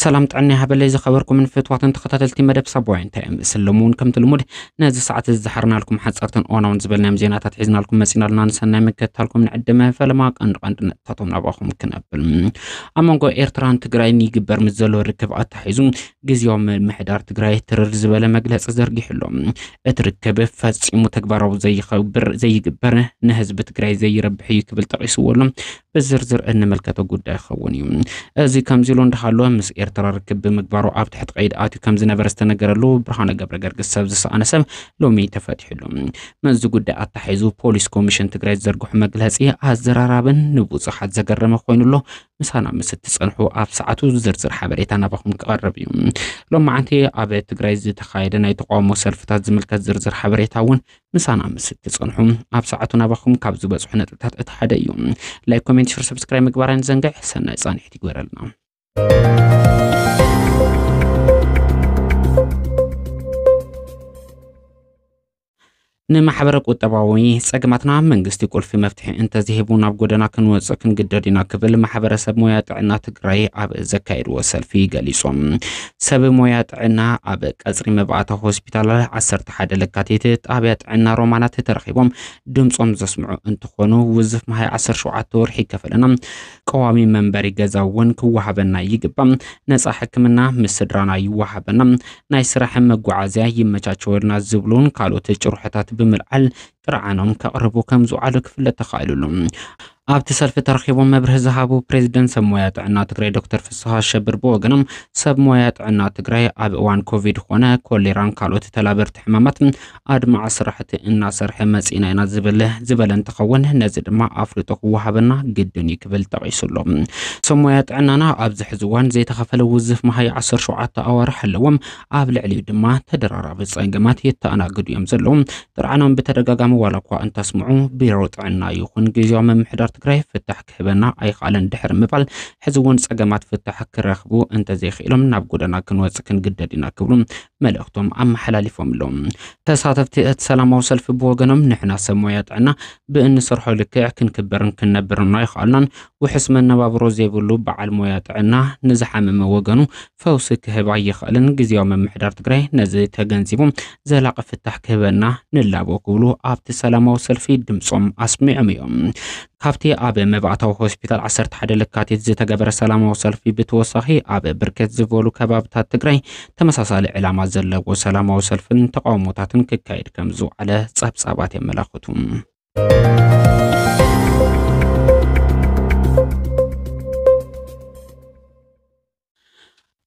ሰላም ጥዕና ይሃበለይ ዝኸበርኩምን ፍትዋትን ተኸታተልቲ መደብ ሳቦያ እንታይ እምስል ሎሚ እውን ከምቲ ልሙድ ነዚ ሰዓት እዚ ዝሓርናልኩም ሓጸርትን እዋናውን ዝበልናዮም ዜናታት ሒዝናልኩም መጺና ኣሎና ንሰናይ ምክትታልኩም ንዕድመ ፈለማ ቀንዲ ቀንዲ ነጥብታቶም ናባኹም ክነብል ኣብ መንጎ ኤርትራን ትግራይን ይግበር ምስ ዘሎ ርክብ ኣታሒዙ ግዜያዊ ምምሕዳር ትግራይ ትርር ዝበለ መግለጺ ዘርጊሑ ኣሎ እቲ ርክብ ፈጺሙ ተግባራዊ ዘይኸብር ዘይግበር ንህዝቢ ትግራይ ዘይረብሕ እዩ ክብል ጠቂስዎ ኣሎ ብዝርዝር እንምልከቶ ጉዳይ ክኸውን እዩ። እዚ ከምዚ ኢሉ እንዳሃሎ ምስ ኤርትራ ርክብ ብምግባሩ ኣብ ትሕቲ ቀይዲ ኣትዩ ከም ዝነበረ ዝተነገረሉ ብርሃነ ገብረ ገርግስ ሰብ ዝሰኣነ ሰብ ሎሚ ተፈቲሕሉ። ምስዚ ጉዳይ ኣታሒዙ ፖሊስ ኮሚሽን ትግራይ ዝዘርግሑ መግለጺ ኣዘራራብን ንብዙሓት ዘገረመ ኮይኑ ኣሎ። ምሳና ምስ እትጸንሑ ኣብ ሰዓቱ ዝርዝር ሓበሬታ ናባኹም ክቐርብ እዩ። ሎማዓንቲ ኣብ ትግራይ ዝተኻየደ ናይ ተቃውሞ ሰልፍታት ዝምልከት ዝርዝር ሓበሬታ እውን ምሳና ምስ ትጸንሑ ኣብ ሰዓቱ ናባኹም ካብ ዝበጽሑ ነጥብታት እቲ ሓደ እዩ። ላይክ፣ ኮሜንት፣ ሽር፣ ሰብስክራይብ ምግባር ኣይንዘንግዕ። ሰናይ ጻንሒት ይግበረልና። ንማሕበረ ቁጠባዊ ጸገማትና መንግስቲ ቁልፊ መፍትሒ እንተዝሂቡ ናብ ጎደና ክንወፅእ ክንግደድ ኢና ክብል ማሕበረሰብ ሞያ ጥዕና ትግራይ ኣብ ዘካየድዎ ሰልፊ ገሊፆም። ሰብ ሞያ ጥዕና ኣብ ቀፅሪ መባእታ ሆስፒታል ዓሰርተ ዓሰርተ ሓደ ለካቲት ጣብያ ጥዕና ሮማናት ተረኺቦም ድምፆም ዘስምዑ እንትኾኑ ውዝፍ መሃይ ዓሰርተ ሸውዓተ ወርሒ ይከፈለና፣ ቀዋሚ መንበሪ ገዛ እውን ክወሃበና ይግባእ፣ ነፃ ሕክምና ምስ ስድራና ይወሃበና፣ ናይ ስራሕን መጓዓዝያ ይመቻቸወልና ዝብሉን ካልኦት ጭርሖታት ብምልዓል ጥርዓኖም ከቕርቡ ከምዝውዓሉ ክፍለጥ ተኻኢሉሉ። ኣብቲ ሰልፊ ተረኺቦም መብርሂ ዝሃቡ ፕሬዚደንት ሰብ ሞያ ጥዕና ትግራይ ዶክተር ፍስሃ ኣሸብር ብወገኖም ሰብ ሞያ ጥዕና ትግራይ ኣብ እዋን ኮቪድ ኾነ ኮሌራን ካልኦት ተላበርቲ ሕማማት ኣድማዒ ስራሕቲ እናሰርሐ መፂእና ኢና ዝብል ዝበለ እንትኸውን ነዚ ድማ ኣፍልጦ ክወሃበና ግድን እዩ ክብል ጠቒሱ ኣሎ። ሰብ ሞያ ጥዕናና ኣብዚ ሕዚ እዋን ዘይተኸፈለ ውዝፍ መሃያ ዓሰርተ ሸውዓተ ኣዋርሕ ኣለዎም። ኣብ ልዕሊኡ ድማ ተደራራቢ ጸገማት የተኣናግዱ እዮም ዘለዉ። ጥርዓኖም ብተደጋጋሚ ዋላ እኳ እንተስምዑ ቢሮ ጥዕና ይኹን ግዜያዊ ምምሕዳር ትግራይ ፍታሕ ክህበና ኣይኸኣለን ድሕሪ ምባል ሕዚ እውን ጸገማት ፍታሕ ክረኽቡ እንተዘይክኢሎም ናብ ጎደና ክንወጽ ክንግደድ ኢና ክብሉ መልእኽቶም ኣመሓላሊፎም ኣለዉ። ተሳተፍቲ እቲ ሰላማዊ ሰልፊ ብወገኖም ንሕና ሰብ ሞያ ጥዕና ብእንሰርሖ ልክዕ ክንክበርን ክንነብርን ኣይኸኣልናን። ውሑስ መነባብሮ ዘይብሉ በዓል ሞያ ጥዕና ንዝሓመመ ወገኑ ፈውሲ ክህብ ኣይኽእልን። ግዜያዊ ምምሕዳር ትግራይ ነዚ ተገንዚቡ ዘላቒ ፍታሕ ክህበና ንላቦ ክብሉ ኣብቲ ሰላማዊ ሰልፊ ድምፆም ኣስሚዖም እዮም። ካብቲ ኣብ መባእታዊ ሆስፒታል 11 ለካቲት ዝተገበረ ሰላማዊ ሰልፊ ብተወሳኺ ኣብ ብርክት ዝበሉ ከባብታት ትግራይ ተመሳሳሊ ዕላማ ዘለዎ ሰላማዊ ሰልፍን ተቃውሞታትን ክካየድ ከም ዝውዓለ ጸብጻባት የመላኽቱ።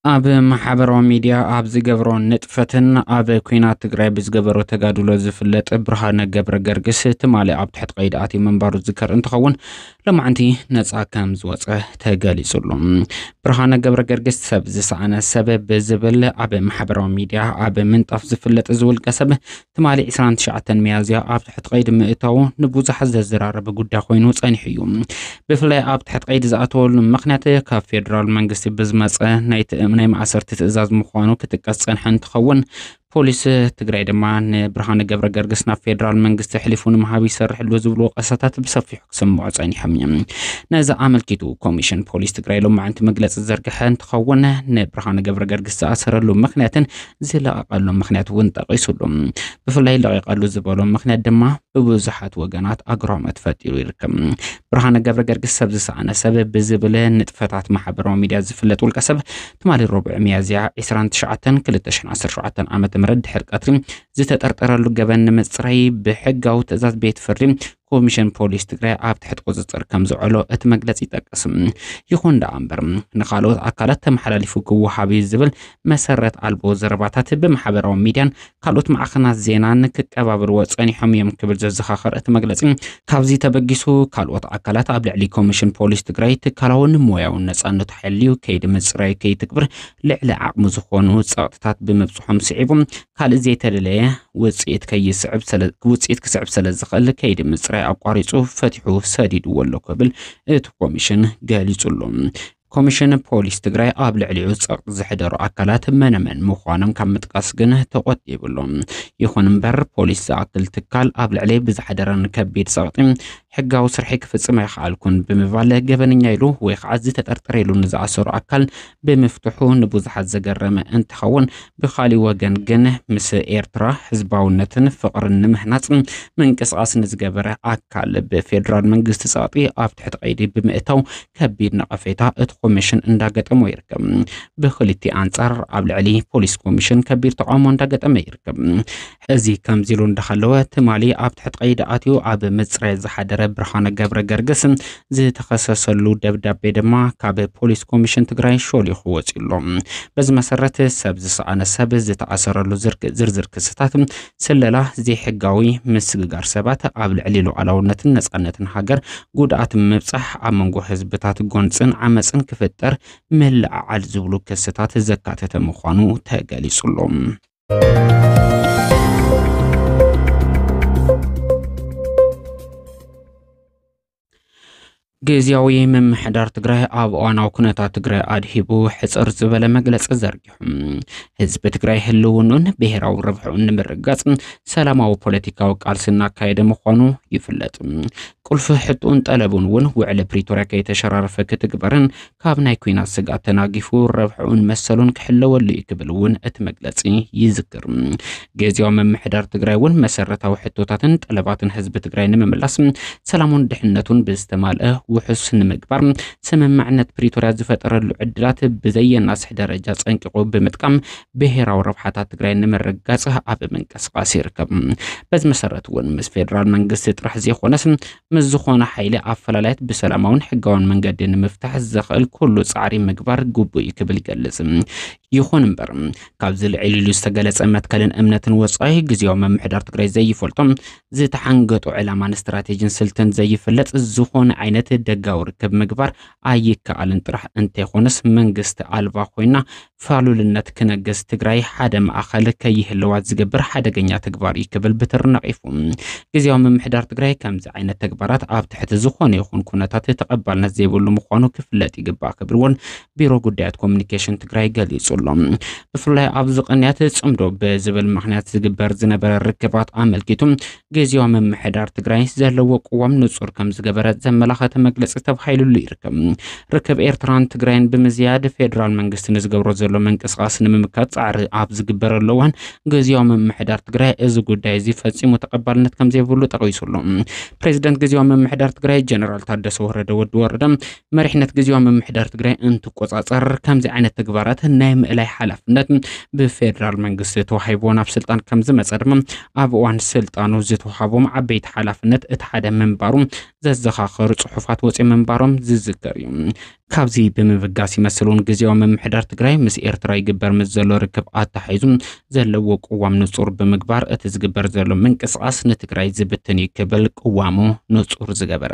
ኣብ ማሕበራዊ ሚድያ ኣብ ዝገብሮ ንጥፈትን ኣብ ኩናት ትግራይ ብዝገበሮ ተጋድሎ ዝፍለጥ ብርሃነ ገብረ ገርግስ ትማሊ ኣብ ትሕቲ ቀይዲ ኣትዩ ምንባሩ ዝከር እንትኸውን ለማዕንቲ ነፃ ከም ዝወፀ ተገሊፁሉ። ብርሃነ ገብረ ገርግስ ሰብ ዝሰኣነ ሰብ ብዝብል ኣብ ማሕበራዊ ሚድያ ኣብ ምንጣፍ ዝፍለጥ ዝውልቀ ሰብ ትማሊ ዕስራን ትሽዓተን ሚያዝያ ኣብ ትሕቲ ቀይዲ ምእታዉ ንብዙሓት ዘዘራረበ ጉዳይ ኮይኑ ጸኒሑ እዩ። ብፍላይ ኣብ ትሕቲ ቀይዲ ዝኣተወሉ ምኽንያት ካብ ፌደራል መንግስቲ ብዝመጸ ናይቲ ናይ ማእሰርቲ ትእዛዝ ምዃኑ ክጥቀስ ጸንሐ እንትኸውን ፖሊስ ትግራይ ድማ ንብርሃነ ገብረ ገርግስ ናብ ፌደራል መንግስቲ ኣሕሊፉ ንምሃብ ይሰርሕሉ ዝብሉ ወቀሳታት ብሰፊሑ ክሰምዑ ጸኒሖም እዮም። ነዚ ኣመልኪቱ ኮሚሽን ፖሊስ ትግራይ ሎማዕንቲ መግለፂ ዝዘርግሐ እንትኸውን ንብርሃነ ገብረ ገርግስ ዝኣሰረሉ ምኽንያትን ዝለቐቐሉ ምክንያት እውን ጠቒሱሉ። ብፍላይ ለቒቐሉ ዝበሎ ምክንያት ድማ ብብዙሓት ወገናት ኣግራሞት ፈጢሩ ይርከብ። ብርሃነ ገብረ ገርግስ ሰብ ዝሰኣነ ሰብ ብዝብል ንጥፈታት ማሕበራዊ ሚድያ ዝፍለጥ ውልቀ ሰብ ትማሊ ረቡዕ ሚያዝያ 29 2017 ዓ ም ድሕሪ ቀትሪ ዝተጠርጠረሉ ገበን ንምፅራይ ብሕጋዊ ትእዛዝ ቤት ፍርዲ ኮሚሽን ፖሊስ ትግራይ ኣብ ትሕቲ ቁፅፅር ከም ዝውዕሎ እቲ መግለፂ ይጠቅስ። ይኹን ደኣ እምበር ንካልኦት ኣካላት ተመሓላሊፉ ክወሃብ እዩ ዝብል መሰረት ኣልቦ ዘረባታት ብማሕበራዊ ሚድያን ካልኦት ማዕኸናት ዜናን ክቀባበልዎ ፀኒሖም እዮም ክብል ዘዘኻኸር እቲ መግለፂ ካብዚ ተበጊሱ ካልኦት ኣካላት ኣብ ልዕሊ ኮሚሽን ፖሊስ ትግራይ ትካላውን ሞያውን ነፃነቱ ሓልዩ ከይዲ ምፅራይ ከይትግብር ልዕሊ ዓቕሙ ዝኾኑ ፀቕጥታት ብምብፅሖም ስዒቡ ካልእ ዘይተደለየ ውጽኢት ከይስዕብ ስለ ውጽኢት ክስዕብ ስለ ዝኽእል ከይዲ ምጽራይ ኣቋሪጹ ፈቲሑ ሰዲድዎ ኣሎ ክብል እቲ ኮሚሽን ገሊጹ ኣሎ። ኮሚሽን ፖሊስ ትግራይ ኣብ ልዕሊኡ ጸቕጢ ዘሕደሩ ኣካላት መነመን ምዃኖም ካብ ምጥቃስ ግን ተቖጢብሉ። ይኹን እምበር ፖሊስ ዝኣክል ትካል ኣብ ልዕሊ ብዝሓደረን ከቢድ ጸቕጢ ሕጋዊ ስርሒ ክፍጽም ኣይኸኣልኩን ብምባል ገበነኛ ኢሉ ወይ ከዓ ዝተጠርጠረ ኢሉ ንዝኣሰሩ ኣካል ብምፍትሑ ንብዙሓት ዘገረመ እንትኸውን ብኻሊእ ወገን ግን ምስ ኤርትራ ህዝባውነትን ፍቕርን ንምህናፅ ምንቅስቓስ ንዝገበረ ኣካል ብፌዴራል መንግስቲ ፀቕጢ ኣብ ትሕቲ ቀይዲ ብምእታው ከቢድ ነቐፌታ እቲ ኮሚሽን እንዳገጠሞ ይርከብ። ብክልቲኡ ኣንፃር ኣብ ልዕሊ ፖሊስ ኮሚሽን ከቢድ ተቓውሞ እንዳገጠመ ይርከብ። እዚ ከምዚሉ እንዳሃለወ ትማሊ ኣብ ትሕቲ ቀይዲ ኣትዩ ኣብ ምጽራይ ዝሓደረ ብርሃነ ገብረገርግስ ዝተኸሰሰሉ ደብዳቤ ድማ ካብ ፖሊስ ኮሚሽን ትግራይ ሾሊኹ ወጺኡ ኣሎ። በዚ መሰረት ሰብ ዝሰኣነ ሰብ ዝተኣሰረሉ ዝርዝር ክስታት ስለላ፣ ዘይሕጋዊ ምስግጋር ሰባት፣ ኣብ ልዕሊ ሉዓላውነትን ነጻነትን ሃገር ጉድኣት ምብጻሕ፣ ኣብ መንጎ ህዝብታት ጎንጽን ዓመጽን ክፍጠር ምልዕዓል ዝብሉ ክስታት ዘካተተ ምዃኑ ተገሊጹ ኣሎ። ግዝያዊ ምምሕዳር ትግራይ ኣብ እዋናዊ ኩነታት ትግራይ ኣድሂቡ ሕፅር ዝበለ መግለፂ ዘርጊሑ ህዝቢ ትግራይ ህልውኑን ብሔራዊ ረብሕኡን ንምርጋፅ ሰላማዊ ፖለቲካዊ ቃልሲ እናካየደ ምዃኑ ይፍለጥ። ቁልፊ ሕጡን ጠለቡን እውን ውዕሊ ፕሪቶሪያ ከይተሸራረፈ ክትግበርን ካብ ናይ ኩናት ስግኣት ተናጊፉ ረብሕኡን መሰሉን ክሕለወሉ እዩ ክብል እውን እቲ መግለፂ ይዝክር። ግዜያዊ ምምሕዳር ትግራይ እውን መሰረታዊ ሕቶታትን ጠለባትን ህዝቢ ትግራይ ንምምላስ ሰላሙን ድሕነቱን ብዝተማልአ ውሑስ ንምግባር ስምምዕነት ፕሪቶርያ ዝፈጠረሉ ዕድላት ብዘየናስሕ ደረጃ ፀንቂቑ ብምጥቃም ብሄራዊ ረብሓታት ትግራይ ንምርጋፅ ኣብ ምንቅስቃስ ይርከብ። በዚ መሰረት እውን ምስ ፌዴራል መንግስቲ ጥራሕ ዘይኮነስ ምስ ዝኾነ ሓይሊ ኣፈላላያት ብሰላማውን ሕጋውን መንገዲ ንምፍታሕ ዘኽእል ኩሉ ጻዕሪ ምግባር ግቡእ እዩ ክብል ይገልጽ። ይኹን እምበር ካብዚ ልዕል ኢሉ ዝተገለጸ መትከልን እምነትን ወጻኢ ግዝያዊ ምምሕዳር ትግራይ ዘይፈልጦ ዝተሓንገጦ ዕላማን ስትራቴጂን ስልትን ዘይፍለጥ ዝኾነ ዓይነት ደጋዊ ርክብ ምግባር ኣይከኣልን ጥራሕ እንተይኾነስ መንግስቲ ኣልባ ኮይና ፋሉልነት ክነግስ ትግራይ ሓደ ማእኸል ከይህልዋ ዝገብር ሓደገኛ ተግባር እዩ ክብል ብትሪ ነቒፉ። ግዝያዊ ምምሕዳር ትግራይ ከምዚ ዓይነት ተግባራት ኣብ ትሕቲ ዝኾነ ይኹን ኩነታት ተቐባልነት ዘይብሉ ምዃኑ ክፍለጥ ይግባእ ክብል እውን ቢሮ ጉዳያት ኮሙኒኬሽን ትግራይ ገሊፁ ኣሎ። ብፍላይ ኣብዚ ቅንያት ፅምዶ ብዝብል ምኽንያት ዝግበር ዝነበረ ርክባት ኣመልኪቱ ግዝያዊ ምምሕዳር ትግራይ ዘለዎ ቅዋም ንጹር ከም ዝገበረ ዘመላኸተ መግለጺ ተባሂሉሉ ይርከብ። ርክብ ኤርትራን ትግራይን ብምዝያድ ፌዴራል መንግስቲ ንዝገብሮ ዘሎ ምንቅስቓስ ንምምካት ጻዕሪ ኣብ ዝግበረሉ እዋን ግዝያዊ ምምሕዳር ትግራይ እዚ ጉዳይ እዚ ፈጺሙ ተቐባልነት ከም ዘይብሉ ጠቒሱሉ። ፕሬዚደንት ግዝያዊ ምምሕዳር ትግራይ ጀነራል ታደሰ ወረደ ወዲ ወረደ መሪሕነት ግዜያዊ ምምሕዳር ትግራይ እንትቆፃፀር ከምዚ ዓይነት ተግባራት ናይ ምእላይ ሓላፍነት ብፌዴራል መንግስቲ ተዋሂቦ ናብ ስልጣን ከም ዝመፀ ድማ ኣብ እዋን ስልጣኑ ዝተዋሃቦም ዓበይቲ ሓላፍነት እቲ ሓደ ምንባሩ ዘዘኻኸሩ ፅሑፋት ወፂኦም ምንባሮም ዝዝከር እዩ። ካብዚ ብምብጋስ ይመስል እውን ግዜያዊ ምምሕዳር ትግራይ ምስ ኤርትራ ይግበር ምስ ዘሎ ርክብ ኣተሓሒዙ ዘለዎ ቅዋም ንፁር ብምግባር እቲ ዝግበር ዘሎ ምንቅስቓስ ንትግራይ ዝብትን እዩ ክብል ቅዋሙ ንፁር ዝገበረ